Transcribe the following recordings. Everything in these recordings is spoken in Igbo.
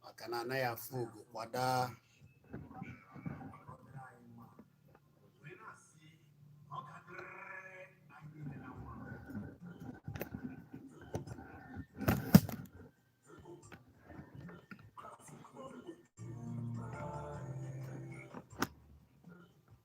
maka na anaghị afụ ogo kwada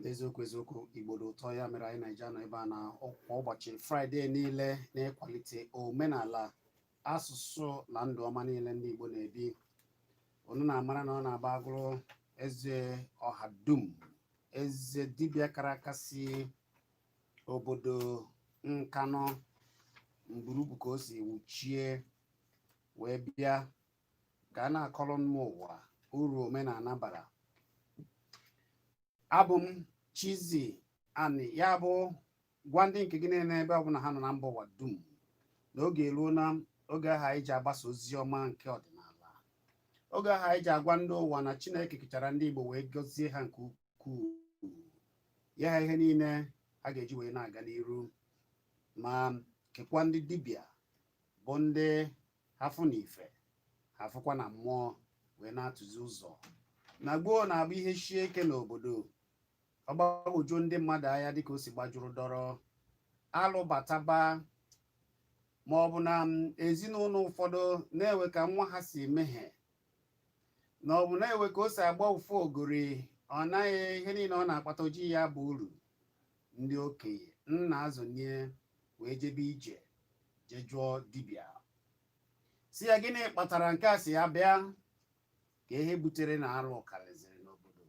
n'eziokwu eziokwu igbo dị ụtọ ya mere anyị na-eji nọ ebe a na kwa ụbọchị fraịde niile n'ịkwalite omenala asụsụ na ndụ ọma niile ndị igbo na-ebi unu na-amara na ọ na-abụ agụrụ eze ọha dum eze dibịa kara aka si obodo nkanụ mburubu ka o si wuchie wee bịa ka a na-akọrọ mba ụwa uru omenala bara abụ m Chizzy Ani ya bụ gwa ndị nke gị niile ebe ọbụla ha nọ na mba ụwa dum na oge eruona oge ahụ anyị ji agbasa ozi ọma nke ọdịnala oge ahụ anyị ji agwa ndị ụwa na Chineke kechara ndị Igbo wee gọzie ha nke ukwuu nye ha ihe niile ha ga-eji wee na-aga n'iru ma kekwa ndị dibịa bụ ndị ha fụ na ife ha fụkwa na mmụọ wee na-atụzi ụzọ na gboo na-abụ ihe shie ike n'obodo ọ gbagwojuo ndị mmadụ anya dịka o si gbajuru dọrọ alụ bataba ma ọ bụ na ezinụlọ ụfọdụ na-enwe ka nwa ha si emehie na ọ bụ na-enwe ka o si agba ụfụ ogori ọ naghị ihe niile ọ na-akpata o ji ya baa uru ndị okenye nna azọnie wee jebe ije jee jụọ dibịa sị ya gịnị kpatara nke a sị ya bịa kaa ihe butere na alụ karịziri n'obodo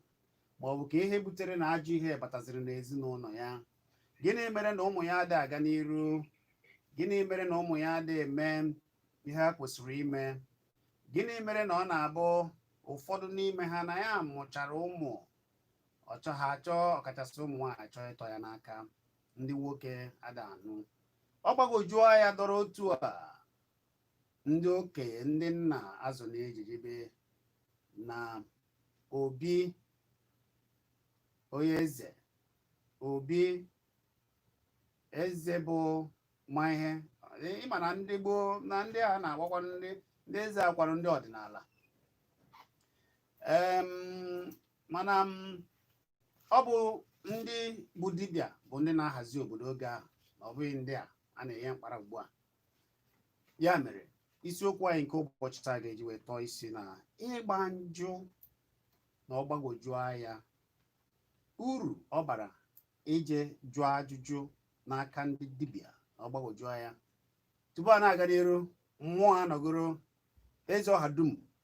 ma ọ bụ kaa ihe butere na ajọ ihe bataziri n'ezinụlọ ya gịnị mere na ụmụ ya adịghị aga n'iru gịnị mere na ụmụ ya adịghị eme ihe ha kwesịrị ime gịnị mere na ọ na-abụ ụfọdụ n'ime ha na ya mụchara ụmụ ọ chọ ha achọ ọkachasị ụmụ nwaanyị achọ ịtọ ya n'aka ndị nwoke ada anụ ọ gbagwojuo ya dọrọ otu a ndị okenye ndị nna azọnie ije jebe na obi onye eze obi eze bụ ma ihe ị ma na ndị gboo na ndị a na-agwakwa ndị ndị eze akwara ndị ọdịnala mana ọ bụ ndị bụ dibịa bụ ndị na-ahazi obodo oge ahụ na ọ bụghị ndị a a na-enye mkpara ugbu a ya mere isiokwu anyị nke ụbọchị taa ga-eji wee tọọ isi na ịgba njụ na ọgbagwoju anya uru ọ bara ije jụọ ajụjụ n'aka ndị dibịa na ọgbagwoju anya tupu a na-aga n'iru mmụọ anọgoro eze ọha dum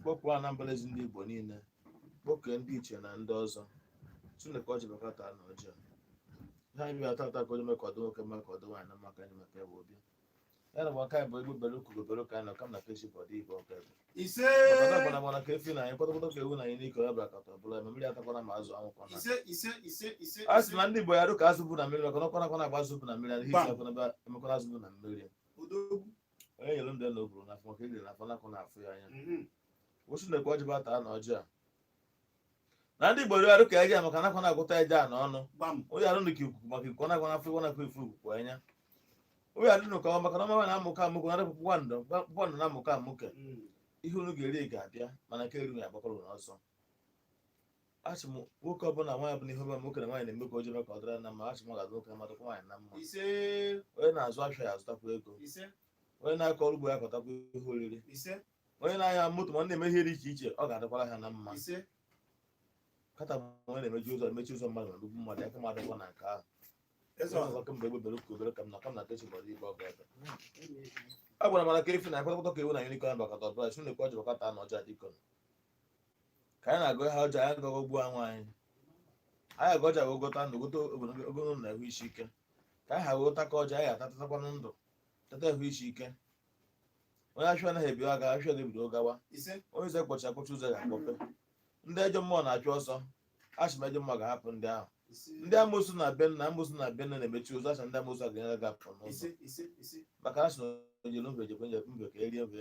kpọkuo anambra ezi ndị igbo niile kpọkuo ndị ichie na ndị ọzọ chineke ọ jibakọta na ọjọọ ihe anyị bịa tata ka onye mee ka ọdụ nwoke mee ka ọdụ nwaanyị na maka anyị maka ebe obi ya na maka anyị bụ egbe bere ugo bere ụka anyị na kam na peji bụ ọdị igbo ọka ebe ise ọkọta gbara gbara ka efi na anyị kpọtọkpọtọ ka ewu na anyị n'ike ọ bịakọta ọbụla eme mmiri atakwana ma azụ anwụkwana ise ise ise ise a sị na ndị igbo ya adị ka azụ bu na mmiri maka na ọkụ anakwana agba azụ bu na mmiri adịghị isi gbam akwana ebe emekwana azụ bu na mmiri odogwu onye nyere ndụ ya na o buru n'afọ maka edere n'afọ nakụ na-afụ ya anya Mhm. wụsị na-ekwe ọjị bata na ọjị a na ndị igbo ya adị ka eja maka anakwana agụta eja ọnụ gbam unu adị ka ikuku maka ikuku nakwa n'afọ ịwa nakwa afụ ikuku anya unu adị ka ọnwa maka na ọnwa na-amụke amụke na adịpụpụ gwandụ gwandụ na-amụke amụke Mhm. ihe unu ga-eri ga-abịa mana nke eri unu agbakwara ọsọ asị m nwoke ọbụla nwaanyị ọbụla ihe ọbụla nwoke na nwaanyị na-eme ka o jebe ka ọ dịrị na mma asị m ga-adị nwoke mma dịkwa nwaanyị na mma ise onye na-azụ afịa ya azụtakwa ego ise onye na-akọ ọrụ ugbo ya akọtakwa ihe oriri ise onye na-anya moto ma ọ na-eme ihe dị iche iche ọ ga-adịkwara ha na mma ise kata ma onye na-emechi ụzọ emechi ụzọ mmadụ na nnukwu mmadụ aka mmadụ kwa na nke ahụ eze ọzọ ọzọ kemgbe egbe bere ka ugo bere ka m na ka m na kechi bọrọ ibe ọ ga-ebe a gwara m na ka efi na kpọtọkpọtọ ka ewu na unicorn bakọta ọbụla si na-ekwe ọjị bakọta na ọjị adịkọ ka anyị na-agọ ha ọjị a anyị agaghị agọgbu onwe anyị anyị agọ ọjị a wee gọta ndụ gọta ogologo na ahụ isi ike ka anyị ha wee ta ka ọjị a anyị atatakwanụ ndụ tata ahụ isi ike onye afịa anaghị ebi aga afịa ga-ebido gawa ise onye ụzọ kpọchi akpọchi ụzọ ga-akpọpe ndị ejọ mmụọ na-achụ ọsọ asị m ejọ mmụọ ga-ahapụ ndị ahụ ndị amosu na be nna amosu na be nna na-emechi ụzọ asha ndị amosu ga-enyere gị apụ n'ụzọ maka na asị na oje n'obe jekwe nje mbe ka erie obe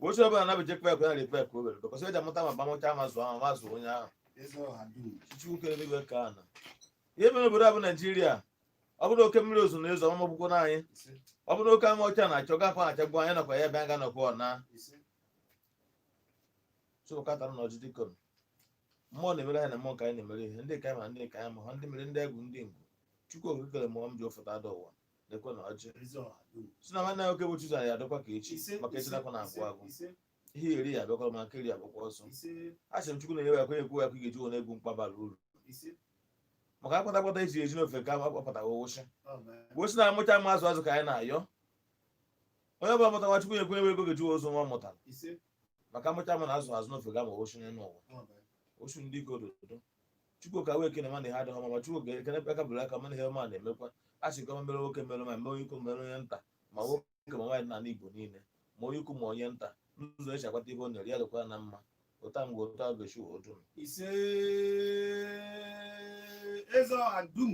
oche ọbụla na beje kpek na repek ka o were bịkọsị eji amụta ma gbanwecha ma zụọ ahụ ma zụọ onye ahụ chukwu kere enigwe ka ana ihe mere obodo a bụ naijiria ọ bụrụ oke mmiri ozuzo na-ezo ọ magbukwana anyị ọ bụrụ oke anwụ ọcha na-acha ọ gakwa na-achagbu anyị nakwa ya bịa ga nọkwa ọna so ụka tara na ọjị dịka m. mmụọ na-emere ha na mmụọ ka anyị na-emere ihe ndị ka anyị ma ndị ka anyị ma ha ndị mere ndị egwu ndị ngwu chukwu okike kere mmụọ m ji ofụta ada ụwa lekwe na ọjị ezi ọha dum si na nwanne nwoke bụ Chizzy ya adịkwa ka echi ise maka echi anakwana agwụ ise, agwụ ise ihe eri ya abịakwara ma nke eri agbakwa ọsọ ise a sị m chukwu na-enye ya kwenye ekwu ya ka ị ga-eji were egbo mkpa bara uru ise maka akpata akpata esi eji n'ofe ka akpataghị ụwụsị amen wụsị na amụcha ma azụ azụ ka anyị na-ayọ onye ọbụla mụtara nwa chukwu nyekwa ya ego ọ ga-eji zụọ nwa ọ mụtara maka amụcha mana azụ azụ n'ofe gama ochu n'elu ụwa ochu ndị ike ododo chukwu ka wee kene mana ihe adịghị ọma ma chukwu ga-ekene ebe aka bụrụ aka mana ihe ọma na-emekwa a sị ka o mere nwoke mere ma mee onye ukwu mere onye nta ma nwoke ma nwaanyị n'ala igbo niile ma onye ukwu ma onye nta n'ụzọ eji akwata ihe o nyere ya dịkwa na mma ụta mgbe ụta gochi odum ise eze ọha dum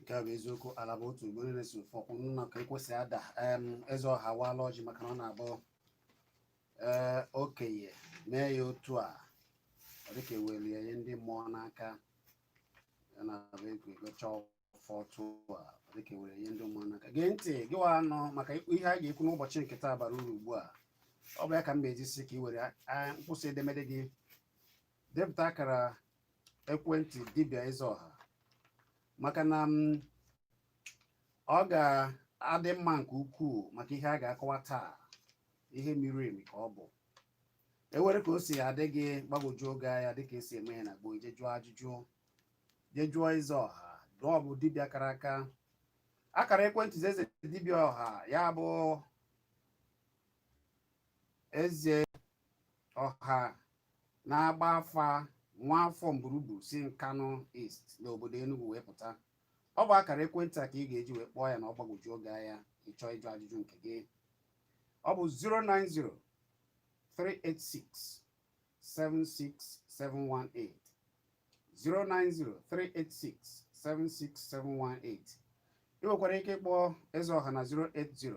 nke a bụ eziokwu ala bụ otu ugboro na-esi ofe ọkwụ nna ka ekwesị ada em, eze ọha waala ọjị maka na ọ na-abụ ee okenye mee ya otu a ọ dịka ewere ihe ndị mmụọ n'aka ya na-abụ agọcha ọfọ otu a ọ dịka ewere ihe ndị mmụọ n'aka gee ntị gị wa nọ maka ihe a ga-ekwu n'ụbọchị nke taa bara uru ugbu a ọ bụ ya ka m na-eji sị ka i were a- mkpụsị edemede gị depụta akara ekwentị dibịa eze ọha maka na m ọ ga-adị mma nke ukwuu maka ihe a ga-akọwa taa ihe miri emi ka ọ bụ enwere ka o si adị gị gbagwojuo gị anya dịka esi eme ya na gboo je jụọ ajụjụ je jụọ eze ọha na ọ bụ dibịa kara aka akara ekwentị eze dibịa ọha ya bụ eze ọha na-agba afa nwa afọ mburubu si nkanụ east n'obodo enugu wee pụta ọ bụ akara ekwentị a ka ị ga-eji wee kpọọ ya na ọ gbagwojuo gị anya ị chọọ ịjụ ajụjụ nke gị ọ bụ 090 386 76718 090 386 76718 ị nwekwara ike ịkpọ eze ọha na 080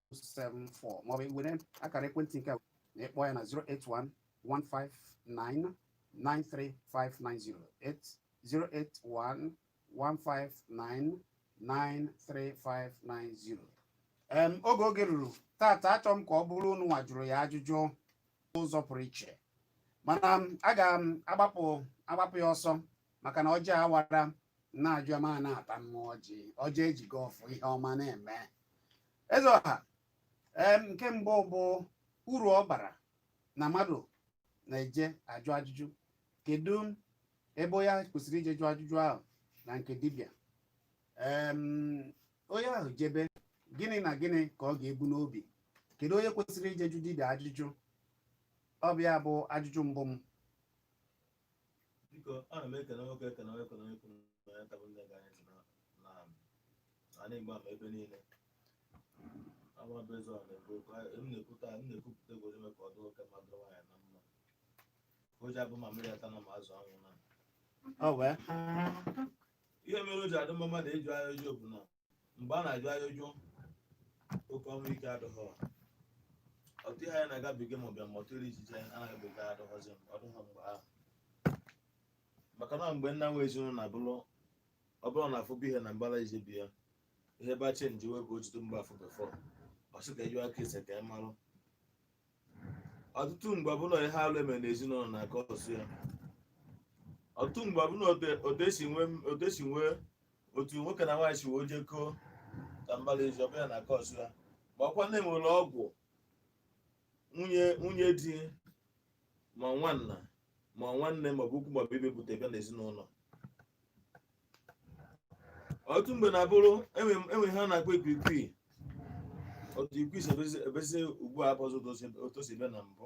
08028871374 maọbụ were akara ekwentị nke a ị kpọọ ya na 08115993590 08115993590 em oge oge ruru tata achọ m ka ọ bụrụ unu nwa jụrụ ya ajụjụ n'ụzọ pụrụ iche mana m, aga m agbapụ agbapụ ya ọsọ maka na ọjị awara na-ajụ ama na-ata mmụọ ọjị ọjị eji gọọ ọfọ ihe ọma na-eme eze ọha nke mbụ bụ uru ọ bara na mmadụ na-eje ajụ ajụjụ kedu mgbe onye ahụ kwesịrị ije jụọ ajụjụ ahụ na nke dibịa onye ahụ jebe gịnị na gịnị ka ọ ga-ebu n'obi kedu onye kwesịrị ije jụ dibịa ajụjụ ọ bụ ya bụ ajụjụ mbụ m biko ana m ekele nwoke ekele onye ekele onye kwuru na onye ọbụla na-ege anyị ntị na na ala igbo ma ebe niile aha m bụ eze ọha na-ekwu okwu a- m na-ekwuta m na-ekwupụta egwu ime ka ọ dị nwoke mma dịrị nwaanyị na mma o ji abụ ma mmiri atana ma azụ anwụna o nwee ihe mere o ji adị mma mmadụ ịjụ ajụjụ bụ na mgbe a na-ajụ ajụjụ oke ọnwụ ike adịghị ọtụ ihe anyị na-agabiga ma ọbịa ma ọtụ iri ijiji anyị anaghịbiga adịghọzi ọ dịghọ mgbe ahụ maka na mgbe nna nwe ezinụlọ na-abụrụ ọ bụrụ na a fụbụ ihe na mbara ezi be ya ihe ba chenji wee ka ọtụtụ mgbe afọ before ọ sị ka a jụwa ese ka ị marụ ọtụtụ mgbe ọ bụlụ ihe alụ e me na ezinụlọ na-acause ya ọtụtụ mgbe ọ bụlụ otu- otu e si nwee otu e si nwee otu nwoke na nwaanyị si wee jekọọ na mbara ezi ọ bụ ya na-acause ya ma ọ kwa na e nwere ọgwụ nwunye nwunye di ma nwanna ma nwanne ma ọ bụ ikwu ma ọ bụ ibe bute bịa n'ezinụlọ ọtụtụ mgbe na-abụrụ e nwee ihe a na-akpọ ikwikwii otu ikwi si ebezi- ebezi ugbu a abụzụ otu o si ebe na mbụ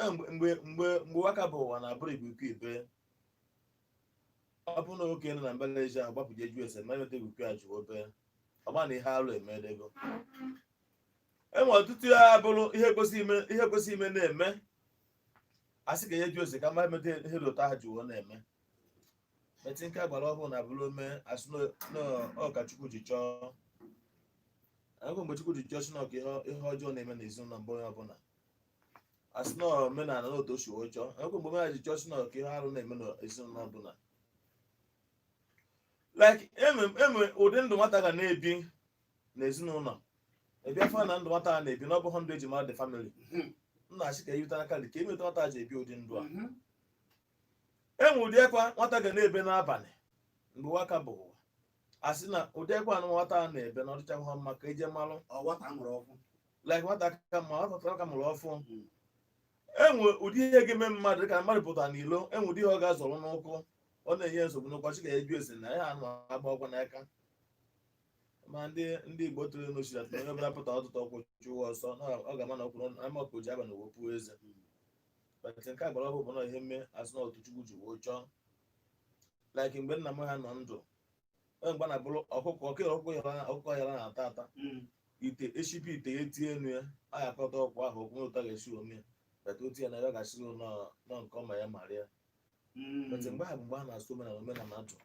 Eh, mgbe mgbe mgbe mgbe ụwa ka bụ ụwa na-abụrụ ikwikwii bee ọ bụrụ na nwoke nọ na mbara ezi ahụ agbapụ je jụ ese ma ihe meta ikwikwii a ji ebe ọ bụ na ihe alụ emedego e nwee ọtụtụ ya abụrụ ihe kwesị ime ihe kwesị ime na-eme a sị ka e je jụ ese ka a ma ihe meta ihe dị otu ahụ ji wee na-eme but nke agbara ọhụrụ na-abụrụ o mee a sị na ọ ka chukwu ji chọọ kedụ mgbe chukwu ji chọọ sị na ọ ka ihe ihe ọjọọ na-eme n'ezinụlọ be onye ọbụla a sị na omenala na otu o si wee chọọ kee mgbe omenala ji chọọ sị na ọ ka ihe arụ na-eme na ezinụlọ ọbụla like e nwee e nwee ụdị ndụ nwata ga na-ebi na ezinụlọ a bịa fụ na ndụ nwata a na-ebi na ọ bụghị ndụ e ji mara the family Mhm. nna asị ka a jụta n'aka dị ka ihe meta nwata ji ebi ụdị ndụ a Mhm. e nwee ụdị ekwa nwata ga na-ebe n'abalị mgbe ụwa ka bụ ụwa a sị na ụdị ekwa a nụ nwata a na-ebe na ọ dịchahụ mma ka e je malụ ọwata mụrụ ọkwụ like nwata ka ma ọ pụtara ka mụrụ ọfụụ Mm. e nwee ụdị ihe ga-eme mmadụ ka mmadụ pụta n'ilo e nwee ụdị ihe ọ ga-azọrọ n'ụkwụ ọ na-enye nsogbu n'ụkwụ chi ga-ajụ ese na ya anụ agba ọgwụ n'aka ma ndị ndị igbo tụrụ ilu sị atụ onye ọbụla pụta ụtụtụ ọkụkọ chụwa ọsọ na ọ ga-ama na ọkwụrụ ma ọkụkọ ji abanị wee pu eze but nke agbara ọhụụ bụ na ihe mee a sị na otu chukwu ji wee chọọ like mgbe nna m ha nọ ndụ onye mgbe na-abụrụ ọkụkọ ọkụ ọkụkọ yara ọkụkọ yara na-ata ata Mm. ite e shibe ite ya e tinye nnu ya a ga-akọta ọkwa ahụ okwu ụta ga-esi ome ya but otu ya na ya ga-asọ n'ọnụ nke ọma ya mara ya Mm. but mgbe ahụ bụ mgbe a na-asọ omenala omenala atụ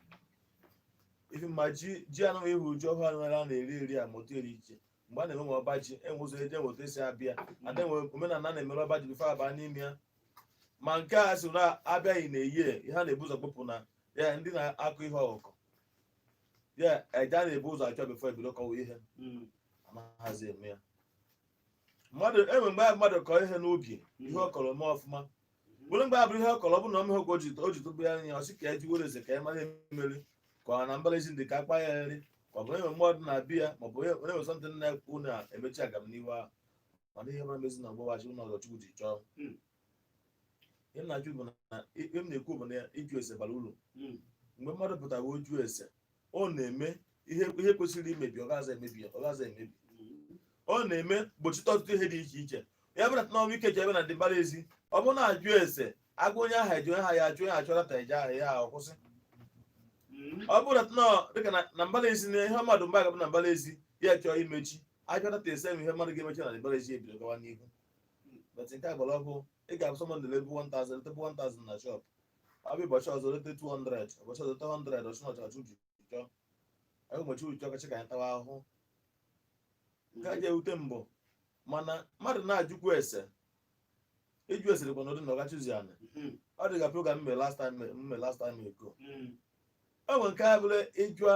ife ma ji ji anụghị ihu ji ọhụrụ anụghị a na-eri eri a ma otu eri iche mgbe a na-emewe ọba ji enwe ụzọ eji enweta esi abịa ada enwe omenala a na-emere ọba ji before abaa n'ime ya ma nke a si na abịaghị na-eyi ya, ihe a na-ebu ụzọ kpụpụ na ya ndị na-akụ ihe ọkụkụ ya aja a na-ebu ụzọ achụ before ebido kọwa ihe Mm. anaghịzi eme ya mmadụ enwe mgbe mmadụ kọọ ihe n'ubi ihe ọ kọrọ mee ọfụma bụrụ mgbe abụrụ ihe ọ kọrọ ọ bụ na ọmịa ọgwụ ji o ji tụbụ ya anya ọ sị ka ya jee jụọ ese ka ya mara emeri ka ọ na mbara ezi ndị ka akpa ya nri ka ọ bụ enwe mmadụ na-abi ya ma ọ bụ onye nwesọ ndị nna ekwu na emechi agam n'ihu ahụ ọ dịghị mara mezi na ọgbọwachi ụlọ ọzọ chukwu ji chọọ Mm. ihe m na-ajụ bụ na ihe m na-ekwu bụ na ịjụ ese bara uru Mm. mgbe mmadụ pụtara ọ jụọ ese ọ na-eme ihe ihe kwesịrị imebi ọ gaghịzi emebi ya ọ gaghịzi emebi ọ na-eme gbochite ọtụtụ ihe dị iche iche ya bụrụ na ọnwụ ike ji ebe na ndị mbara ezi ọ bụrụ na a jụọ ese agwa onye aha eji onye aha ya ajụ onye achọrọ ta eji aha ya ahụ kwụsị ọ bụrụ na nọ dịka na- na mbara ezi na ihe mmadụ mba gabụ na mbara ezi ya chọọ imechi a jụta ese m ihe mmadụ ga-emechi na mbara ezi ebido gawa n'ihu but nke a gbara ọhụụ ị ga-ahụ somebody lebu 1000 letebu 1000 na shop abịa ụbọchị ọzọ lete 200 ụbọchị ọzọ lete 100 ọchị na ọchọchị uju chọ anyị ụbọchị uju ọkọchị ka anyị tawa ahụhụ nke a ga-ewute mbụ mana mmadụ na-ajụkwu ese ịjụ ese dịkwa n'ụdị na ọga Chizzy anị Mhm. ọ dị ka program m mere last time m mere last time ago Mhm. enwe nke a bụla ịjụa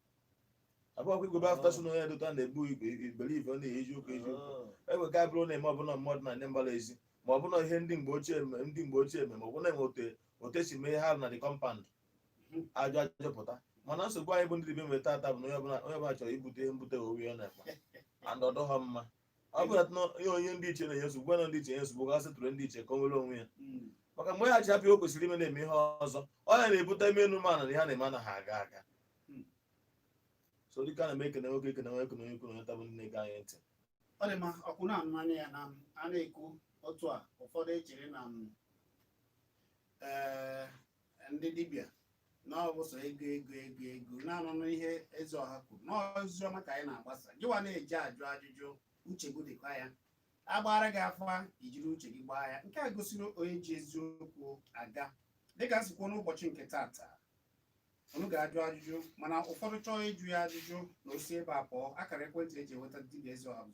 abụọkwa igwe bafta so n'onye dota na-ebu igwe iberibe ọ na-eyi eziokwu eziokwu egbe ka bụrụ na-eme ọ bụ na mmadụ na ndị mbara ezi ma ọ bụ na ihe ndị mgbe ochie eme ndị mgbe ochie eme ma ọ bụ na enwe otu e otu e si mee ha na the compound a jụọ ajụpụta mana nsogbu anyị bụ ndị dibịa nwere tata bụ na onye ọbụla onye ọbụla chọrọ ibute ihe mbute owe ya n'akpa and ọ dịghị mma ọ bụrụ na ihe onye ndị ichie na-enye nsogbu gwana ndị ichie nye nsogbu ga settle ndị ichie ka o nwere onwe ya Mm. maka mgbe ya ji hapụ ihe o kwesịrị ime na-eme ihe ọzọ ọ ya na-ebute ime enu mana na ihe ọ na-eme anaghị aga aga Hmm. so dịka a na m ekene nwoke ekene nwoke ekene onye kwuru onye tabụ ndị na-ege anyị ntị ọ dị mma ọkwụ na-anụ anya ya na a na-ekwu otu a ụfọdụ echere na m ee ndị dibịa na ọ bụ sọ ego ego ego ego na-anụnụ ihe eze ọha kwuru na ozi ọma ka anyị na-agbasa gịwa na-eji ajụ ajụjụ uche gị dịkwa ya a gbaara gị afa i jiri uche gị gbaa ya nke a gosiri onye ji eziokwu aga dịka m si kwuo n'ụbọchị nke tata unu ga-ajụ ajụjụ mana ụfọdụ chọọ ịjụ ya ajụjụ na o si ebe a pụọ akara ekwentị eji enweta dibịa eze ọha bụ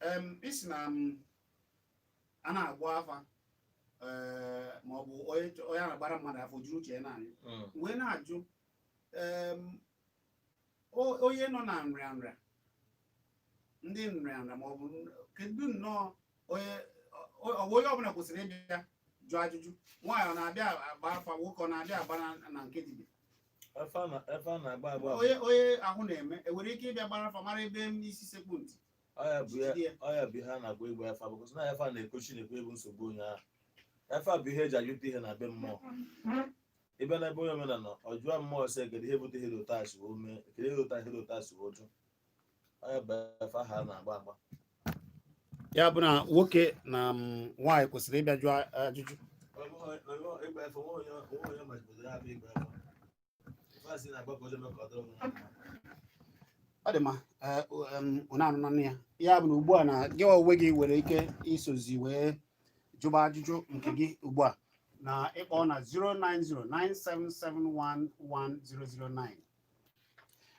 em ị sị na ma a na-agba afa ee ma ọ bụ onye chọ- onye a na-agbara mmadụ afa o jiri uche ya naanị Mm. wee na-ajụ em, o- onye nọ na nrịa nrịa ndị nrịa nrịa ma ọ bụ n- kedu nnọọ onye ọ ọ bụ onye ọbụla kwesịrị ịbịa jụọ ajụjụ nwaanyị ọ na-abịa agba afa nwoke ọ na-abịa agba na- na nke dibịa Efa a na- efa a na-agba agba bụ- onye onye ahụ na-eme e nwere ike ịbịa gbara afa mara ebe m isi sekpu ntị ọ ya bụ ya- jide ya. ọ ya bụ ihe a na-agba ịgba efa because na efa na-ekochi na-ekwu ihe bụ nsogbu onye ahụ efa bụ ihe e ji ajụta ihe na be mmụọ ị bịa n'ebe onye omenala ọ jụọ mmụọ sị kedu ihe bute ihe dị otu a si wee mee kedu ihe dị otu a ihe dị otu a si wee jụ ya bụ na nwoke na mm, nwaanyị kwesịrị ịbịa jụọ ajụjụ ọ dị mma ụnụ anụnanụ ya ya bụ na ugbu a na gị onwe gị nwere ike isozi wee jụba ajụjụ nke gị ugbu a na ịkpọ na 09097711009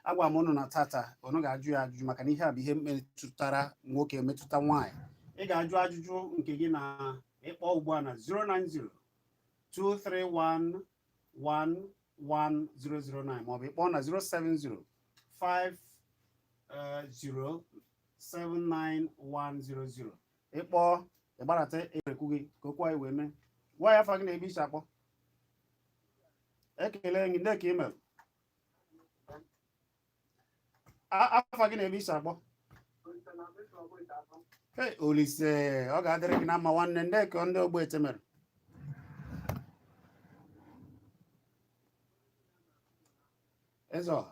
agwa m ụnụ na taata ụnụ ga-ajụ ya ajụjụ maka na ihe a bụ ihe metụtara nwoke metụta nwaanyị ị ga-ajụ ajụjụ nke gị na ịkpọ ugbu a na 090 231 11009 maọbụ ịkpọ na 070 5079100 ị kpọọ ị gbarata erekwu gị ka okwu anyị wee mee gwa ya afa gị na ebe i si akpọ ekele gị ndee ka ị mere afa gị na ebe i si akpọ olisa ọ ga-adịrị gị na mma nwanne ndee ka ndị ogbete mere eze ọha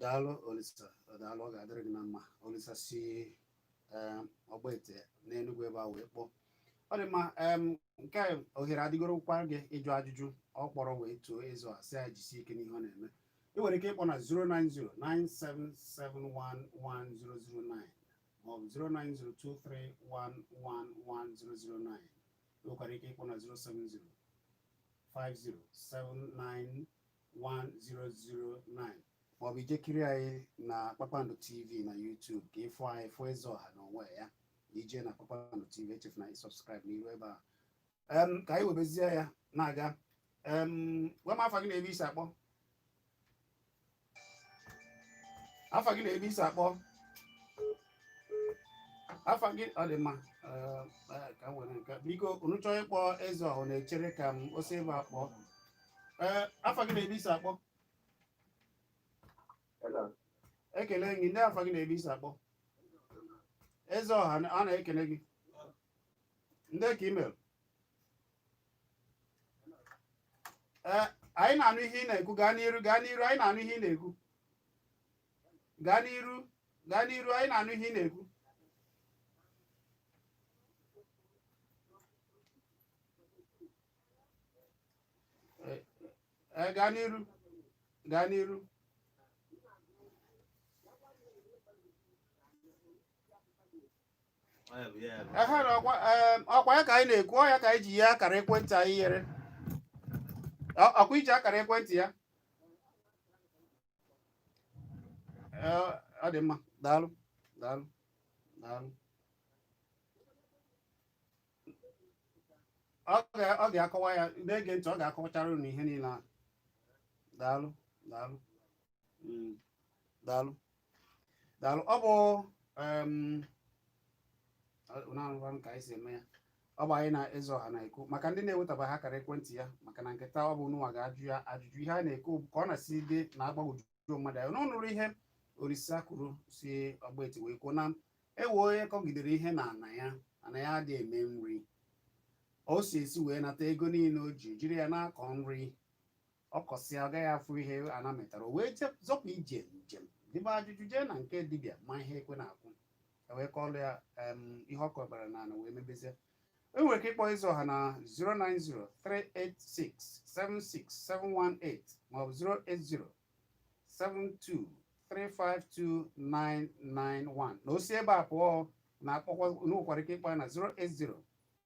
daalụ olisa daalụ ọ ga-adịrị gị na mma olisa si eh, ogbete n'enugwu ebe a wee kpọọ ọ dị mma em, nke a ohere adịgorokwa gị ịjụ ajụjụ ọ kpọrọ wee too eze ọha sị ya jisie ike n'ihe ọ na-eme ị nwere ike ịkpọ na 09097711009 maọbụ 09023111009 ị nwekwara ike ịkpọ na 070 5079 1009 maọbụ i je kiri anyị na kpakpando tv na youtube ka ị fụ anyị fụ eze ọha na onwe ya i je na kpakpando tv echefuna ị subscribe n'iru ebe a Em, ka anyị webezie ya na-aga Em, gwa m afa gị na ebe i si akpọ afa gị na ebe i si akpọ afa gị ọ dị mma Eh, eh, ka m were nke biko unu chọọ ịkpọ eze ọha na-echere ka m osi ebe akpọ ee afa gị na ebe i si akpọ Hello. ekele gị ndee afa gị na ebe i si akpọ eze ọha na- a na-ekele gị ndee ka i mere ee anyị na-anụ ihe ị na-ekwu gaa n'iru gaa n'iru anyị na-anụ ihe ị na-ekwu gaa n'iru gaa n'iru anyị na-anụ ihe ị na-ekwu Eh, eh, gaa n'iru gaa n'iru ehe na ọkwa em, ọkwa ya ka anyị na-ekwu ọ ya ka anyị ji ihe akara ekwentị anyị yere Ọ- ọkwa i ji akara ekwentị ya ọ dị mma daalụ daalụ daalụ ọ ga-akọwa ya na-ege ntị ọ ga-akọwachara unu ihe niile a daalụ daalụ mm, daalụ daalụ ọ bụ na-arụkwa ka anyị si eme ya ọ bụ anyị na eze ọha na-ekwu maka ndị na-ewetaba akara ekwentị ya maka na nke taa ọ bụ unu nwa ga-ajụ ya ajụjụ ihe a na-ekwu bụ ka ọ na-si dị na-agbagwojuju mmadụ anya unu nụrụ ihe orisa kwuru si ọgba eti wee kwuo na e nwe onye kọgidere ihe na ana ya ana ya adịghị eme nri o si esi wee nata ego niile o ji jiri ya na-akọ nri ọ kọsịa ọ gaghị afụ ihe ana metara o wee je- zọpụ ije njem jebe ajụjụ jee na nke dibịa ma ihe ekwe na-akụ e wee kọọlụ ya em, ihe ọ kọbara na ana wee mebezie e nwere ike ịkpọ eze ọha na 09038676718 maọbụ 08072352991 na o si ebe a pụọ na-akpọkwa unu nwekwara ike ịkpọ ya na 080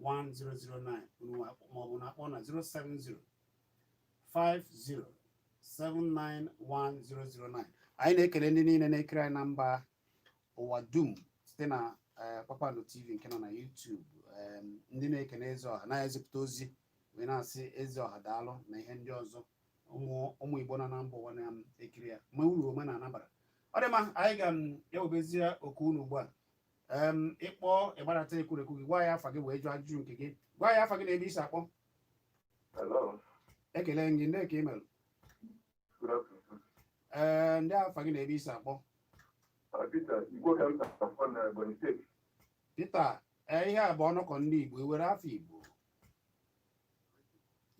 1009 unu maọbụ na akpọ na 070 50 791 009 anyị na-ekele ndị niile na-ekiri anyị na mba ụwa dum site na eh, Kpakpando TV nke nọ na YouTube ndị na-ekele eze ọha na-ezipụta ozi wee na-asị eze ọha daalụ na ihe ndị ọzọ ụmụ Igbo nọ na mba ụwa na-ekiri ya ma uru omenala bara ọ dị mma anyị ga-ewebezie oku unu ugbu a em ị kpọọ ị gbarata ekwurekwu gị gwa ya afa gị wee jụọ ajụjụ nke gị gwa ya afa gị na ebe i si akpọ Hello. ekele m gị ndị ka i mere Good afternoon. ee ndị afa gị na ebe i si akpọ Uh, Peter, Igbo ka m na-akpọ na Ebonyi steeti. pita ee ihe a bụ ọnọkọ ndị igbo i were afọ igbo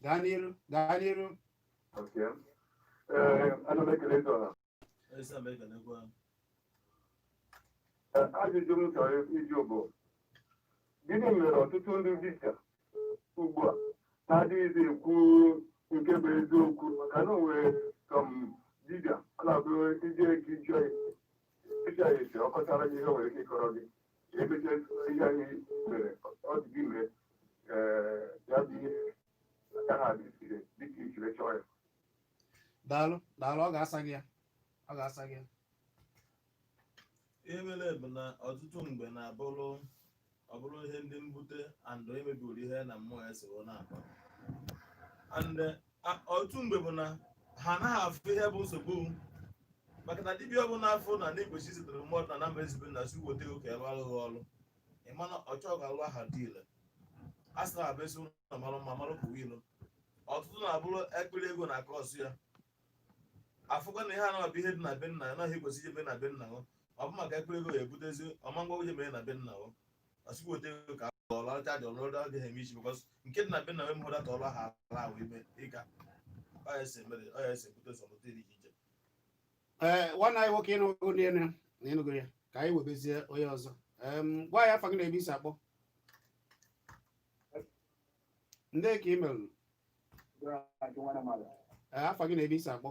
gaa n'iru gaa n'iru Okay. Eh, ana m ekele eze ọha. Esa m ekenekwa. Ee, ajụjụ m chọrọ ịjụ bụ gịnị mere ọtụtụ ndị dibịa ugbu a na-adịghịzi ekwu nke bụ eziokwu maka na o nwere some dibịa ọ na-abụ i jee ka ị chọọ ịjụ ya ase ọ kọchara gị ihe o nwere ike ịkọrọ gị e mechaa ihe anyị mere ọ dịghị mee ee, ya bụ ihe daalụ daalụ ọ ga-asa gị ya ọ ga-asa gị ya ihe mere bụ na ọtụtụ mgbe na-abụrụ ọ bụrụ ihe ndị mbute and emebiri ihe na mmụọ ya si wee na-akpa and a- ọtụtụ mgbe bụ na ha anaghị afụ ihe bụ nsogbu maka na dibịa ọbụla afọ na na-egbochi zitere mmadụ na namba ezigbo na si weta oke ebe alụghị ọrụ ị ma na ọ chọọ ga-alụ aha adị ile a sị na abụ esi ụlọ malụ mma malụ pụwa ilo ọtụtụ na-abụrụ ekpiri ego na-a cause ya afụkwa na ihe a na-abụ ihe dị na be nna ya naghị ekwesị ije mee na be nna ya ọ bụ maka ekpiri ego ya ebutezi ọ ma gwa onye mee na be nna ya ọ sịkwa wote ego ka a ọla ọcha dị ọrụ ọrụ adịghị eme isi because nke dị na be nna ya mụrụ data ọrụ ha ala ahụ ime ịga ọ ya esi emere ọ ya esi ebute sọpụta iri iche ee nwanne anyị nwoke ị nụgo ndị enu na ị nụgo ya ka anyị webezie onye ọzọ Em, gwa anyị afa gị na ebe i si akpọ ndee ka i mere Ee, afa gị na ebe i si akpọ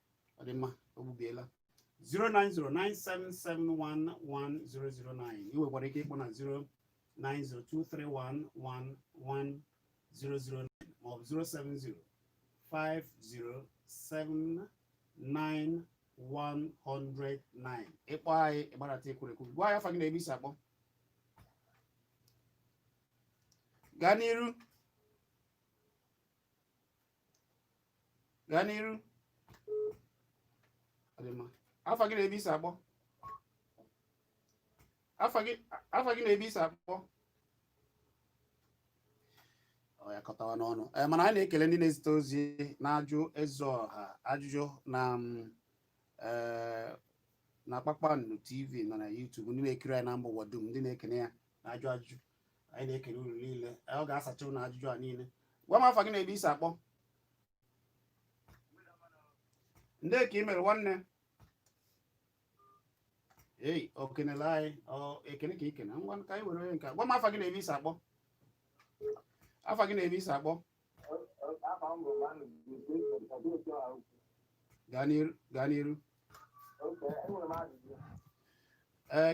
ọ dị mma o gbubiela 09097711009 ị nwekwara ike ịkpọ na 09023111009 maọbụ 0705079 109 ị kpọọ anyị ị gbarata ekwurekwu gwa anyị afa gị na ebe i si akpọ gaa n'iru gaa n'iru Ọ dị mma. afa gị na ebe i si akpọ afa gị afa gị na ebe i si akpọ ọ ya kọtawa n'ọnụ Eh, mana anyị na-ekele ndị na-ezite ozi na-ajụ eze ọha ajụjụ na mm, eh, na kpakpando tv ma na youtube ndị na-ekiri anyị na mba ụwa dum ndị na-ekene ya na-ajụ ajụjụ anyị na-ekele unu niile ọ ga-asacha unu ajụjụ a niile gwa m afa gị na ebe i si akpọ ndee ka i mere nwanne ei o kenele anyị ekene ka i kene ngwa ka anyị were onye nke gwa m afa gị na ebe i si akpọ afa gị na ebe i si akpọ gaa n'iru ee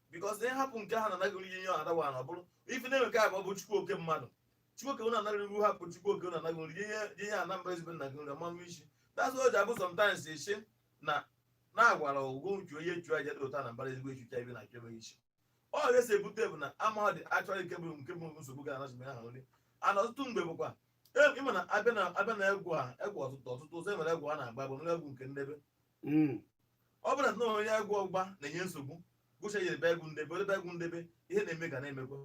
because na ị hapụ nke ha na-ana gị nri ihe adawa na ọ bụrụ ife na-eme nke a bụ ọ bụ chukwu oke mmadụ chukwu oke na-ana gị nri hapụ chukwu oke na-ana gị nri ihe ihe a na mba ezigbo na-ana gị nri ọmamụ isi that's why o ji abụ sometimes isi na na-agwara ụgwọ uche onye chụ aja dị ụta na mbara ezigbo achụcha ibe na chebe isi ọ ga-esi ebute bụ na amaghị dị achọghị nke bụ nke bụ nsogbu ga anasị ha nri ana ọtụtụ mgbe bụkwa e- ị ma na a bịa na a bịa na agwụ agwụ ọtụtụ ọtụtụ ụzọ e nwere agwụ a na-agba bụ nwere agwụ nke ndebe hmm. ọ bụrụ na onye agwụ ọgba na-enye nsogbu gụcha ya ebe agwụ ndebe ebe agwụ ndebe ihe na-eme ga na-emekwa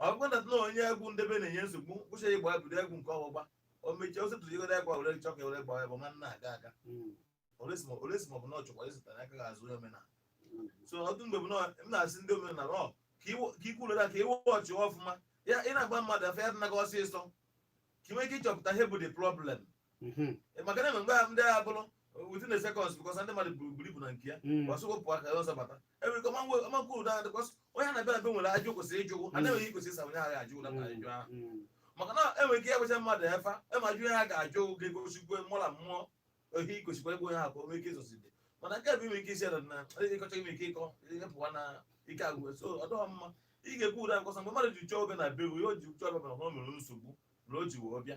ọ bụkwa na na onye agwụ ndebe na-enye nsogbu gụcha ya gba bido agwụ nke ọgbụgba o mechie ose tụrụ igode agwa were chọka were gbawa bụ nwanne aga aga hmm. olesi ma ọ bụ na ọ chọkwa ịzụtara aka ga-azụ onye omenala hmm. so ọtụtụ mgbe m na-asị ndị omenala ọ ka ikwu ụlọ ka iwe ọchị ọfụma ya ị na-agba mmadụ afa ya dịnaga ọsịsọ ka ị nwee ike ịchọpụta ihe bụ the problem mhm. maka na enwe mgbe ndị agha bụrụ within a seconds because ndị mmadụ buru buru ibu na nke ya mm. ọsọ wepụ aka ya ọzọ bata enwere ike ọmankwu ụda because onye na-abịa be nwere ajụ kwesịrị ịjụ ụgwụ ana enweghị kwesịrị ịsa onye a ga-ajụ ụda na ajụ ahụ maka na enwere ike ịgbacha mmadụ efa ema ajụ ihe ha ga-ajụ ga-egosikwa mụla mmụọ ohi igosikwa ebe onye ha ka o nwee ike ịzọside mana nke bụ ime ike isi na ịkọcha ime ike ịkọ ịpụwa na ike agwụ so ọ dọghọ mma ị ga-ekwu ụda nkọsa mgbe mmadụ ji chọọ obe na be ya o ji chọọ obe na ọ mere nsogbu na o ji wee bịa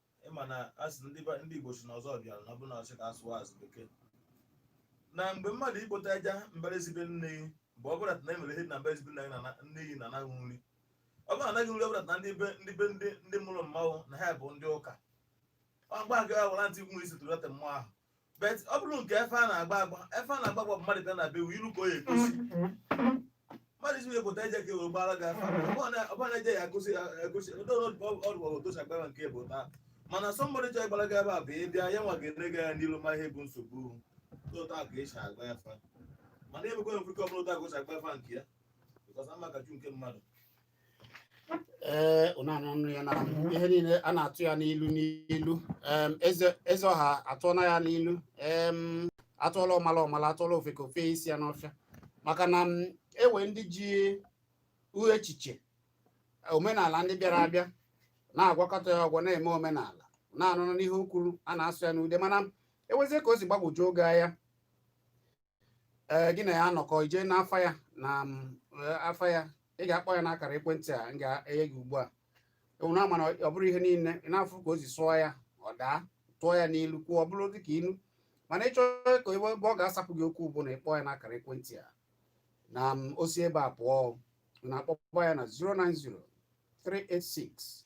ịma na asị ndị ba- ndị igbo si n'ọzọ bịara na ọ bụ na ọsị ka asụwazie bekee na mgbe mmadụ ikpota aja mbara ezi be nne gị bụ ọ bụrụ na emere ihe na mbara ezi be nna gị na na- nne gị na anaghị nri ọ bụrụ na anaghị nri ọ bụrụ na ndị be ndị be ndị ndị mụrụ mmadụ na ha bụ ndị ụka ọ gba gị awara ntị nwa isi tụrụ ata mmụọ ahụ bet ọ bụrụ nke afa a na-agba agba afa a na-agba agba bụ mmadụ bịa na be ilu ka o ya egosi mmadụ isi ekpota aja ka ewere gbara gị afa ọ bụrụ aja ya egosi agosi ndị ọdụgwa otosi agbara nke bụ taa mana sọmbọdị chọrọ ịgbara gị ebe a bụ ị bịa ya nwa ga-ere gị ya n'ilu ma ihe bụ nsogbu otu a ka esi agba afa mana ebekwa mfe ka ọ bụla otu a ka o si agba afa nke ya bikọs ama ka ju nke mmadụ ee eh, unu anụnụ ya na mhm. ihe niile a na-atụ ya n'ilu n'ilu eze ọha atụọna ya n'ilu atụọla ọmala ọmala atụọla ofeke o fe isi ya n'ọfịa maka na enwe ndị ji echiche omenala ndị bịara abịa na-agwakọta ya ọgwọ na-eme omenala na-anụnụ n'ihe o kwuru a na-asụ ya n'ude mana enwezie ka o si gbagwojuo gị anya ee eh, gị na ya anọkọ ije n'afa ya na mm, eh, afa ya ị ga-akpọ ya n'akara ekwentị a m ga-enye gị ugbu a ee na ama na ọ bụrụ ihe niile ị na-afụ ka o si sụọ ya ọ daa tụọ ya n'ilu kwuo ọ bụrụ dị ka ilu mana ị chọọ ka ebe ọ ga-asapụ gị okwu bụ na ị kpọọ ya n'akara ekwentị a na mm, o si ebe a pụọ na-akpọkwa ya na 090 386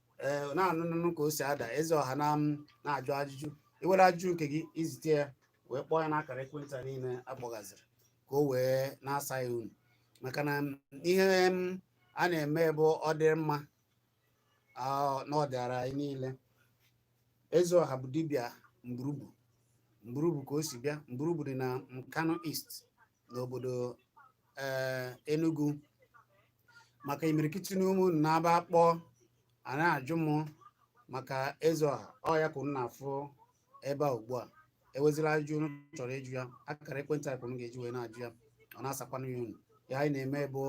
ee na-anụ nụnụ ka o si ada eze ọha na na-ajụ ajụjụ i nwere ajụjụ nke gị i zite ya wee kpọọ ya n'akara ekwentị niile akpọgaziri ka o wee na-asa ya unu maka na ihe a na-eme bụ ọdịmma na ọ dịara anyị niile eze ọha bụ dibịa mburubu mburubu ka o si bịa mburubu dị na nkanu east n'obodo eh, Enugu maka imirikiti n'ime unu na-abụ a kpọọ a na-ajụ m maka eze ọha ọ ya ka unu na-afụ ebe a ugbu a ewezila ajụjụ unu chọrọ ịjụ ya akara ekwentị anyị ka unu ga-eji wee na-ajụ ya ọ na-asakwanụ ya unu ihe anyị na-eme bụ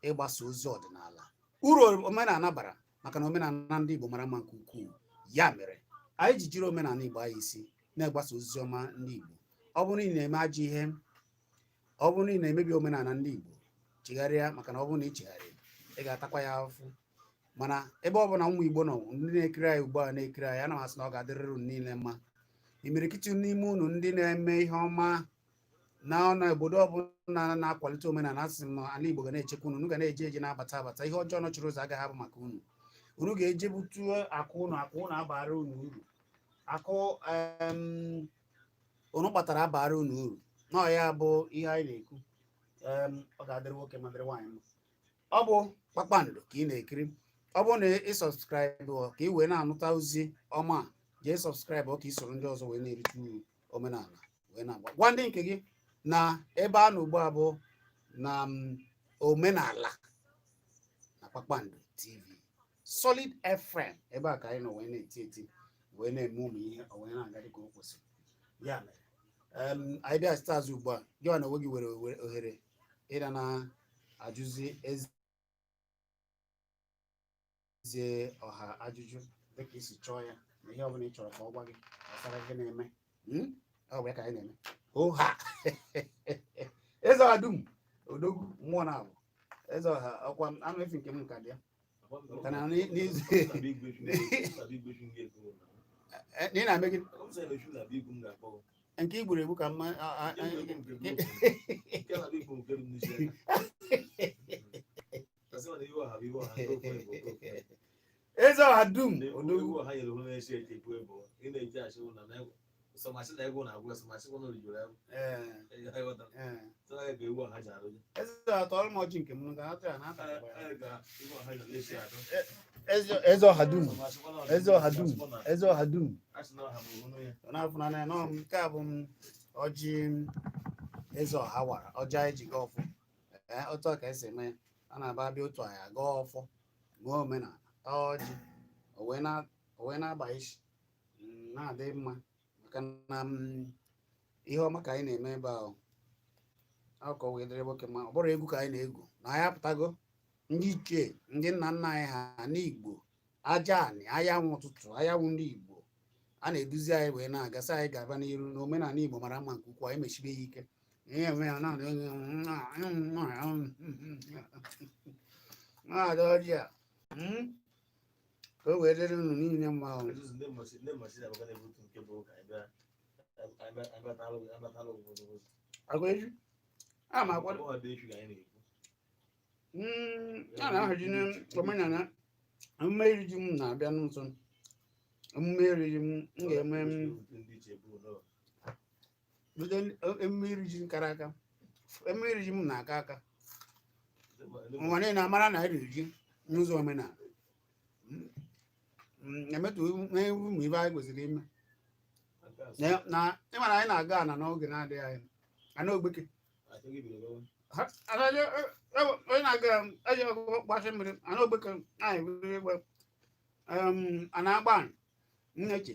ịgbasa ozi ọdịnala uru omenala bara maka na omenala ndị Igbo mara mma nke ukwuu ya mere anyị ji jiri omenala Igbo anya isi na-agbasa ozi ọma ndị Igbo ọ bụrụ na ị na-eme ajọ ihe ọ bụrụ na ị na-emebi omenala ndị Igbo chegharịa maka na ọ bụrụ na ị chegharịghị ị ga-atakwa ya afụfụ mana ebe ọ bụla ụmụ Igbo nọ ndị na-ekiri anyị ugbu a na-ekiri anyị ana m asị na ọ ga-adịrịrị unu niile mma imirikiti n'ime unu ndị na-eme ihe ọma na na obodo ọbụla na-akwalite omenala asị m na ala Igbo ga na-echekwa unu unu ga na-eje eje na-abata abata ihe ọjọọ nọchiri ụzọ agaghị abụ maka unu unu ga-eje butuo akụ unu akụ unu abara unu uru akụ unu kpatara abara unu uru na ya bụ ihe anyị na-ekwu ọ ga-adịrị nwoke mma dịrị nwaanyị mma ọ bụ kpakpando ka ị na-ekiri ọ bụrụ na ị subscribe ka ị wee na-anụta ozi ọma jee subscribe ka ị soro ndị ọzọ wee na-erite uru omenala wee na-aga gwa ndị nke gị na ebe a nọ ugbu a bụ na mm, omenala na kpakpando tv solid fm ebe a ka anyị nọ wee na-eti eti wee na-eme ụmụ ihe o wee na-aga dịka o kwesịrị ya mere em, my dear stars ugbu a gị na onwe gị nwere ohere ịdị na-ajụzi eze ze ọha ajụjụ dịka ị si chọọ ya na ihe ọbụla ị chọrọ ka ọ gwa gị gbasara ihe na-eme hmm? ọ bụ ya ka anyị na-eme ọha eze ọha dum odogwu mmụọ na abụ eze ọha ọkwa anụ efi nke m nka dị ya kana n'izu ị na-eme gị nke igburu egbu ka mma eze ọha dum odogwu ee ee eze ọha tọrọ m ọjị nke m ga atụ ya na ata eze ọha dum eze ọha dum eze ọha dum ọ na-afụ na na nọ m nke a bụ m ọjị m eze ọha wara ọjị anyị ji gọọ ọfọ ee otu a ka e si eme ya ọ na-abụ a bịa otu a anyị agọọ ọfọ mee omenala taa ọjị o wee na- o wee na-agba isi mm, na-adị mma maka na mm, ihe ọma ka anyị na-eme ebe ahụ ọ ka o wee dịrị nwoke mma ọ bụrọ egwu ka anyị na-egwu na anyị apụtago ndị ichie ndị nna nna anyị ha n'igbo aja anị anyanwụ ụtụtụ anyanwụ ndị igbo ha na-eduzi anyị wee na-aga sị anyị gaba n'iru na omenala igbo mara mma nke ukwuu anyị mesibe ya ike maazị ọjị a ka o wee dịrị unu niile mma ahụ agwaeju a na-akwado Mm, a na-ahazi n'omenala emume iri ji m na-abịa n'ụzọ emume iri ji m m ga-eme m bido emume iri ji kara aka emume iri ji m na-aka aka ụwa niile amara na e riri ji n'ụzọ omenala emetụ ụmụ ife anyị kwesịrị ime Na- na ịmara anyị na-aga ana n'oge na-adịghị anya ana ogbeke Ha- ana onye e- onye na-aga eji ọgụgụ gbasị mmiri ana ogbeke anyị were igwe a na-agba nneche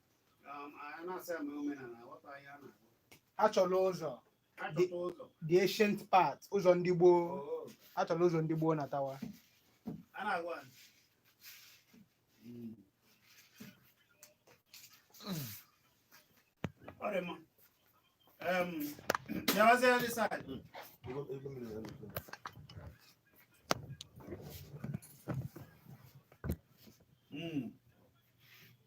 a chọrọ ụzọ the ancient path ụzọ ndị gboo oh. a chọrọ ụzọ ndị gboo natawa Ọ dị mma bịawazie this side. Mm.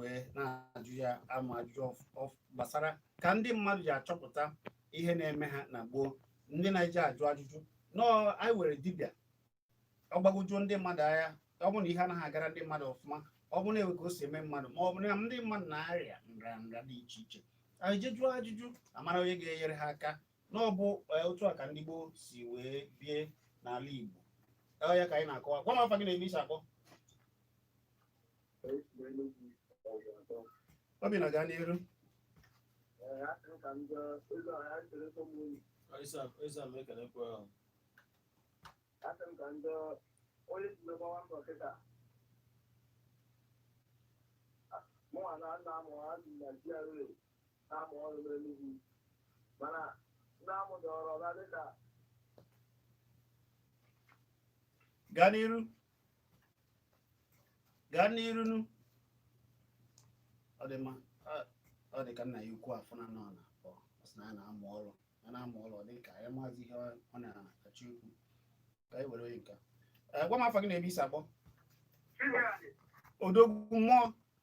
wee na-ajụ m ajụjụ gbasara ka ndị mmadụ ji achọpụta ihe na-eme ha na gboo ndị na-eje ajụ ajụjụ nọ anyị nwere dibịa ọ gbagwojuo ndị mmadụ anya ọ bụrụ na ihe anaghị agara ndị mmadụ ọfụma ọ bụrụ na e nwee ka o si eme mmadụ ma ọ bụ na ndị mmadụ na-arịa nrịanrịa dị iche iche e je jụọ ajụjụ amara onye ga-enyere ha aka na ọ bụ eh, otu a ka ndị gboo si wee bie n'ala Igbo ọ ya ka anyị na-akọwa gwa m afa gị na ebe i si akpọ Obinna gaa n'iru na-amụ ọrụ n'Enugwu mana ndị amụ dọrọ ọga dịka gaa n'iru gaa n'iru nụ ọ dị mma Ọ- ọ dị ka nna ya ukwu afụna na ọ na ọ sị na ya na-amụ ọrụ ya na-amụ ọrụ ọ dị ka ya amazị ihe ọ- ọ na-achọ ikwu ka anyị were onye nke a. Eh, gwa m afa gị na ebe i si akpọ Chinyere, odogwu mmụọ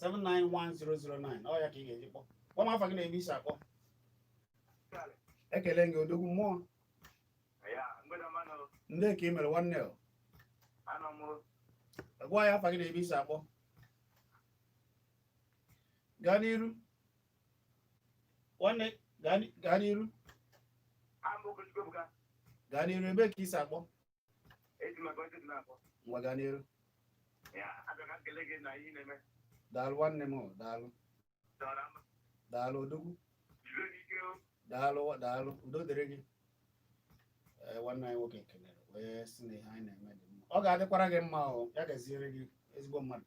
791-009 ọ ya ka ị ga-eji kpọ gwa m afa gị na ebe i si akpọ ekele m gị odogwu mmụọ ndee ka ị mere nwanne o gwa ya afa gị na ebe i si akpọ gaa n'iru nwanne gaa n'iru gaa n'iru ebe ka i si akpọ Eji maka ọchị dị na-akpọ. ngwa gaa n'iru Ya, abịa ka m kelee gị na ihe ị na-eme. daalụ nwanne m o, daalụ Dọrọ ama. daalụ odogwu Jisie ike o. daalụ daalụ udo dịrị gị ee nwanne anyị nwoke kelere wee sị na ihe anyị na-eme dị mma ọ ga-adịkwara gị mma o ya gaziere gị ezigbo mmadụ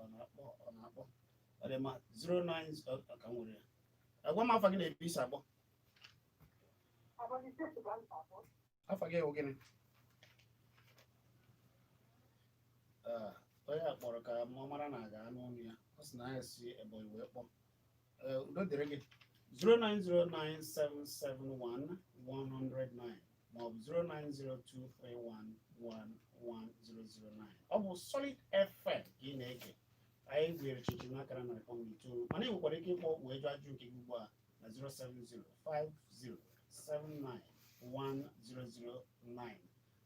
ọ na-akpọ ọ na-akpọ ọ dị mma 09 ka m nwere ya gwa m afa gị na ebe i si akpọ afa gị ewu gịnị onye a kpọrọ ka mụ mara na a ga-anụ ọnụ ya ọ sị na ya si Ebonyi wee kpọọ Ee, udo dịrị gị 09097711009 maọbụ 09023111009 ọ bụ Solid FM ka ị na-ege anyị gweere chichi n'akara narị kpọm itoolu mana ị nwekwara ike ịkpọ wee jụọ ajụ nke gị ugbu a na 07050791009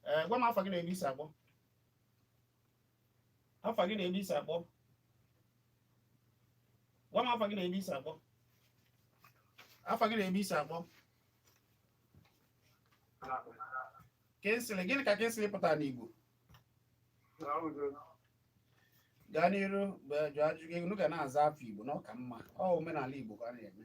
ee gwa m afa gị na ebe i si akpọ afa gị na ebe i si akpọ gwa m afa gị na ebe i si akpọ afa gị na ebe i si akpọ Kingsley gịnị ka Kingsley pụtara n'Igbo gaa n'iru wee jụọ ajụjụ gị unu ga na-aza afa Igbo na ọ ka mma ọ omenala Igbo ka a na-eme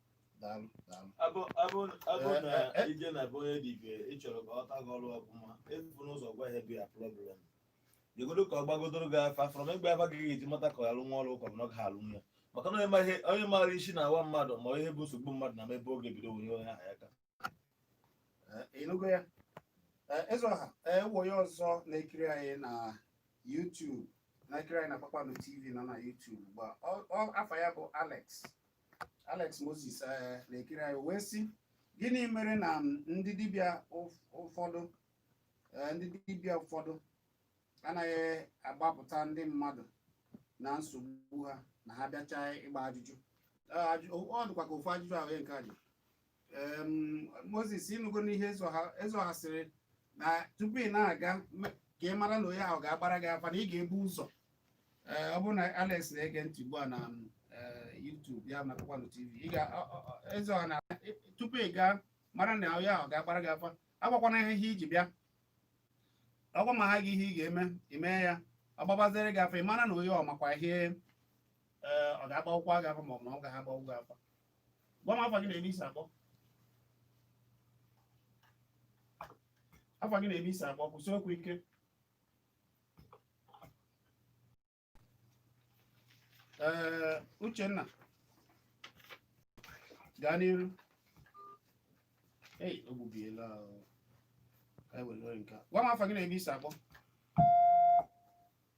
daalụ daalụ Abụ- abụ- abụ Eh, na eh, eh. i je na be onye dibịa ị chọrọ ka ọ lụta gị ọrụ ọfụma ebuna ụzọ gwa ya ihe bụ ya problem jegodo ka ọ gbagodoro gị afa from ịgba afa ka ị ga-eji mata ka ọ ga-alụnwu ọrụ ka na ọ ga-alụnwu ya maka na onye ma ihe- onye maara isi na-awa mmadụ ma ihe bụ nsogbu mmadụ na ebe ọ ga-ebido nye onye ahụ aka Eh, ị nụgo ya Eh, eze ọha e nwe onye ọzọ na-ekiri anyị na YouTube na-ekiri anyị na Kpakpando TV nọ na YouTube ugbu a Ọ- ọ- afa ya bụ Alex Alex Moses eh, na-ekiri anyị wee sị gịnị mere na m, ndị dibịa ụf- ụfọdụ eh, ndị dibịa ụfọdụ anaghị agbapụta ndị mmadụ na nsogbu ha ma ha bịachaa ịgba ajụjụ Eh, ajụ- ọ dịkwa ka ofu ajụjụ ahụ ya nke a dị Em, moses ị nụgo ihe eze ọha eze ọha sịrị na tupu ị na-aga me- ka ị mara na onye ahụ ga-agbara gị afa na ị ga-ebu ụzọ Ee, ọ bụrụ na alex na-ege ntị ugbu a na eh, youtube ya na kpakpando tv ị ga ọ- ọ- ọ- eze ọha na tupu ị gaa mara na onye ahụ ga-agbara gị afa agwakwana ha ihe i ji bịa ọgwa ma ha gị ihe ị ga-eme i mee ya ọ gbabaziere gị afa ị mara na onye ahụ makwa ihe ee, ọ ga-agbanwukwa gị afa ma ọ bụ na ọ gaghị agbanwu gị afa gwa m afa gị na ebe i si akpọ afa gị na ebe i si akpọ kwusie okwu ike ee uchenna gaa n'iru ei o gbubiela. Ka anyị were nke a. gwa m afa gị na ebe i si akpọ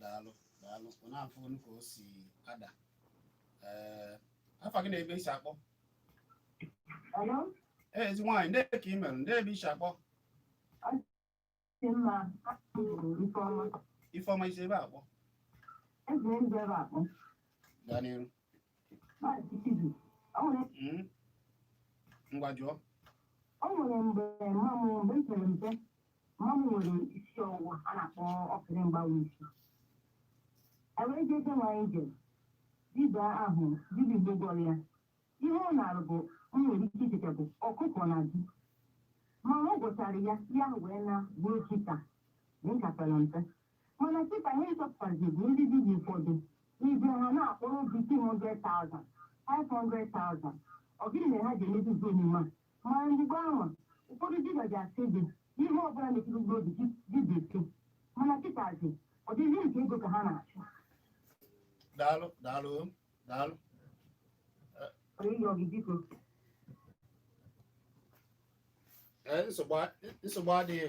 daalụ daalụ na-afụ ka o si ada ee afa gị na ebe i si akpọ ee ezi nwaanyị ndee ka i mere ndee ebe i si akpọ ifeọma i si ebee akpọ gaa n'iru Hmm? ngwa jụọ ọ nwere mgbe mma m mgbe m pere mpe mma m nwere isi ọwụwa a na-akpọ okiri mgbawa isi e wee jee be nwaanyị jere dibịa ahụ dibịa igbo gwọrọ ya ihe ọ nara bụ m nwere ike icheta bụ ọkụkọ na ji mana ọ gwọchara ya ya wee naa bụrụ chita m ka pere mpe mana kịta ihe m chọpụtazi bụ ndị dibịa ụfọdụ ị bịa ha na-akpọrọ gị 200,000 500,000 ọ gịnị mere ha ji emezizi omume a mana mgbe ahụ ụfọdụ dibịa ji asị gị ihe ọbụla metụrụ mkpụrụ obi gị gị ga-eke mana kịtazi ọ dịzị m ka ego ka ha na-achụ daalụ daalụ daalụ ọrụ ịyọ gị biko Ee, nsogbu a- nsogbu adịghị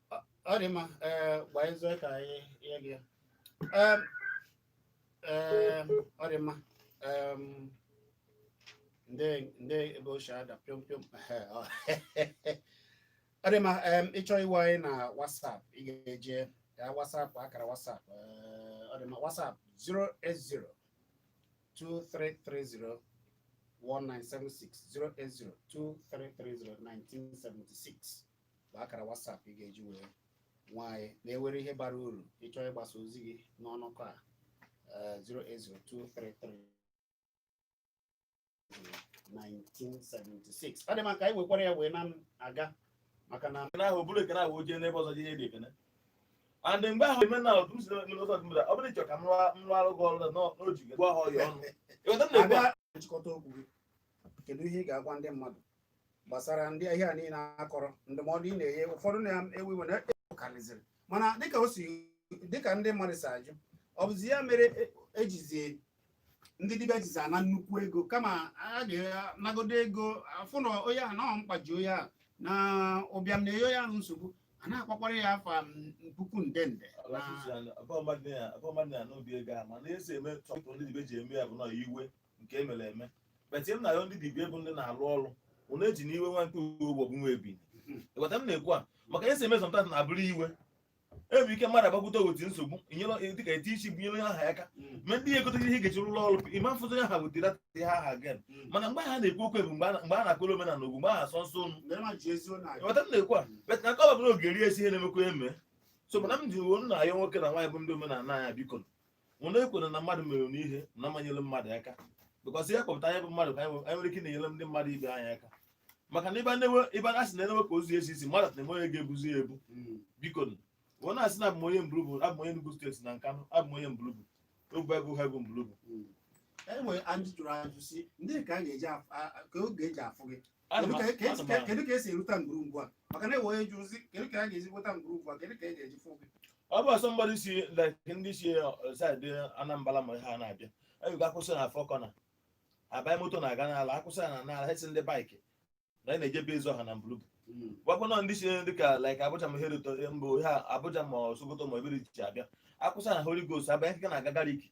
ọ dị mma ee gbaa ezo ka anyị ihe gị Em, em, ọ dị mma Em, ndị ndị ebe ochie ada pịọm pịọm Ehe, ọ ọ dị mma em, ị chọọ inwe anyị na WhatsApp ị ga-eje ya WhatsApp akara WhatsApp ee, ọ dị mma WhatsApp 080 2330 1976 080 2330 1976 bụ akara WhatsApp ị ga-eji wee nwe anyị na ị nwere ihe bara uru ị chọọ ịgbasa ozi gị n'ọnọkọ a 0802333 eh, 1976 ọ dị mma ka anyị wekwara ya wee na-aga maka na na ahụ bụrụ ekene ahụ ojee n'ebe ọzọ ihe dị ekene and mgbe ahụ eme na ọdụm si n'ụzọ ọzọ dịmda ọ bụrụ ị chọọ ka m rụọ arụ gị ọrụ na n'oji gị gwa ha ọya ọnụ ị ghọta na-egbu ha nchịkọta okwu gị kedu ihe ị ga-agwa ndị mmadụ gbasara ndị ihe a niile a kọrọ ndụmọdụ ị na-enye ụfọdụ na-ewu iwe na-ekarịzịrị mana dịka o si dịka ndị mmadụ si ajụ ọ bụzi ya mere ejizi e ndị dibịa jizi ana nnukwu ego kama a ga-anagodo ego afụ na onye ahụ na mkpa ji onye ahụ na ụbịam na-enye onye ahụ nsogbu a na-akpakwara ya afa puku nde nde abụọ mmadụ na-anụ obi ego a mana esi eme tọpụ ndị dibịa ji eme ya bụ na iwe nke emere eme but m na-ayọ ndị dibịa bụ ndị na-alụ ọrụ ụna eji na iwe nwa nke uwe bụ nwa ebini ịghọta m na-ekwu a maka e si eme sometimes na abụrụ iwe enwere ike mmadụ agbakwute oweti nsogbu inyere dịka eti isi bụ nyere aha ya aka ma ndị ya egotere ihe ị ga-eji rụrụ ọrụ ịma mfụta ya ha wetara ihe aha gen mana mgbe ha na-ekwu okwu bụ mgbe a na- mgbe a na-akụrụ omenala ogwu mgbe a na-asọ nsọ unu ịghọta m na-ekwu a but na kọba bụrụ ogeri esi ihe na-emekwa eme so mana m ji wee na-ayọ nwoke na nwaanyị bụ ndị omenala anyị biko unu ekwuna na mmadụ mere unu ihe unu ama nyere mmadụ aka because ihe kpatara anyị bụ mmadụ ka anyị nwe- anyị nwere ike na-enyere ndị mmadụ ibe anyị aka maka na Igbo na-enwe Igbo na-asị na-enwe ka ozu esi isi mmadụ na-enwe onye ga-ebuzi ya ebu Mm. biko nụ ọ na-asị na abụ m onye mbulubu abụ m onye Enugu state na Nkanụ abụ m onye mbulubu ogbe ego ha bụ mbulubu enwere ajụ jụrụ ajụ si ndị ka a ga-eji afụ- a- a- ka a ga-eji afụ gị kedu ka esi erute ngwuru gị a maka na enwe onye ji ozi kedu ka a ga-esi nweta ngwuru gị a kedu ka e ga-eji fụ gị ọ bụ somebody si like ndị si side anambra ma ha na-abịa ị ga-akwụsị na four corner abanye moto na-aga nara akwụsị na nara asị ndị bike na anyị na-eje be ịzụ ọha na mbulubu gwakwa nọ ndị si dị ka like abuja ma hereto mbụ ha abuja ma sokoto ma ebe dị iche abịa akwụsị na holy ghost abanye nke na-aga gariki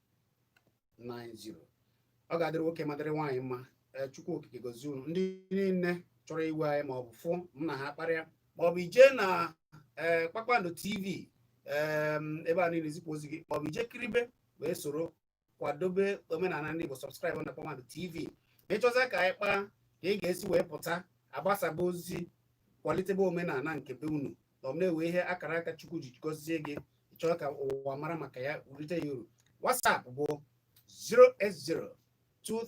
90 ọ ga-adịrị nwoke ma dịrị nwaanyị mma eh, chukwu okike gozie unu ndị niile chọrọ iwe anya ma ọ bụ fụ m na ha kparịa ma ọ bụ ije na eh, kpakpando tv ehm, ebe anyị na-ezipụ ozi gị ma ọ bụ ije kiribe wee soro kwadobe omenala ndị Igbo subscribe na kpakpando tv ma ị chọzia ka anyị kpaa ka ị ga-esi wee pụta agbasaba ozi kwalitebe omenala nke be unu na ọ na-enwe ihe akara aka chukwu ji gọzie gị ị chọọ ka ụwa mara maka ya rite ya uru WhatsApp bụ 08023